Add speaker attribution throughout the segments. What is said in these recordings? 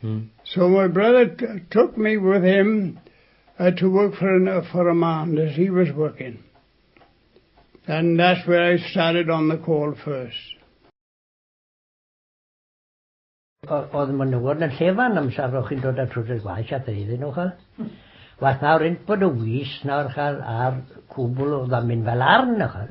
Speaker 1: Hmm. So my brother took me with him uh, to work for, an, uh, for a man that he was working. And that's where I started on the call first.
Speaker 2: Oedd ma'n newod yn llefan am safrwch chi'n dod at rhywbeth gwaith at ei ddyn nhw chael. Wath nawr un bod y wys nawr chael ar cwbl o ddamin fel arn o chael.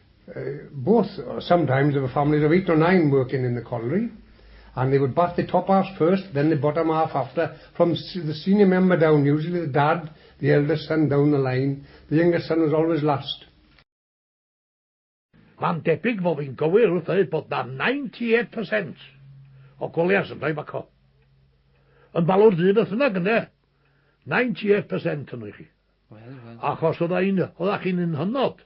Speaker 3: both sometimes there were families of eight or nine working in the colliery and they would bath the top halves first then the bottom half after from the senior member down usually the dad the eldest son down the line the youngest son was always last
Speaker 4: Mae'n debyg fod fi'n gywir wrth ddweud bod 'na 98% o colliers yn rhoi baco. Yn balwr du beth bynnag ynde? 98% yno i chi. Wel, wel. Achos oedda chi'n un hynod.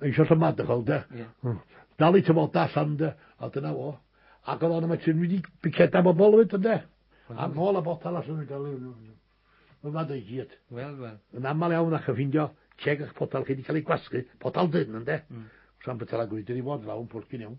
Speaker 4: Mae eisiau sabbatical, de? Yeah. Hmm. Dal i tyfoda allan, de? A dyna fo. Ac oedd o'n yma ti'n wedi biceda bobl fyd, de? A nôl a botal allan yn gael ei... Mae'n fad o'i gyd. Wel, wel. Yn aml
Speaker 5: iawn ac yn
Speaker 4: ffindio ceg a'ch potal chi wedi cael ei gwasgu, potal dyn, de? Mm. Sa'n bytal a gwyd, wedi fod lawn pwrcyn iawn.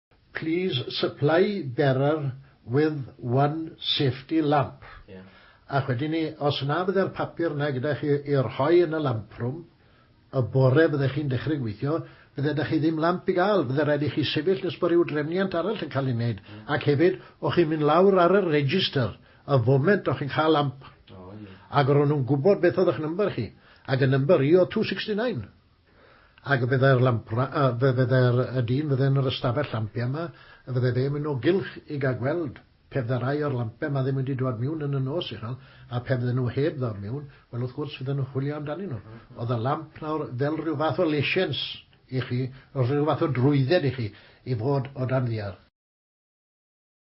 Speaker 6: Please supply bearer with one safety lamp. Ac
Speaker 5: wedyn 'ny,
Speaker 6: os na fydde'r papur 'na gyda chi i rhoi yn y lamp room, y bore fydde chi'n dechre gweithio, fydde 'da chi ddim lamp i ga'l, fydde raid i chi sefyll nes bo ryw drefniant arall yn ca'l ei neud, ac hefyd, o' chi'n mynd lawr ar y register y foment o' chi'n ca'l lamp, ag o' ro' nw'n gwbod beth o'dd 'ych number chi, ag y number i o'dd two sixty nine. Ac fe fyddai'r lampra- yy, fe fyddai'r y dyn fydde yn yr ystafell lampia 'ma, y fydde fe'n mynd o gylch i gael gweld, pe fydde rai o'r lampia 'ma ddim wedi dwad miwn yn y nos uchel, a pe fydden nhw heb ddod miwn, wel, wrth gwrs, fydden nhw'n chwilio amdanyn nhw. Oedd y lamp nawr fel rhyw fath o lesiens i chi, rhyw fath o drwydded i chi i fod o dan ddiar.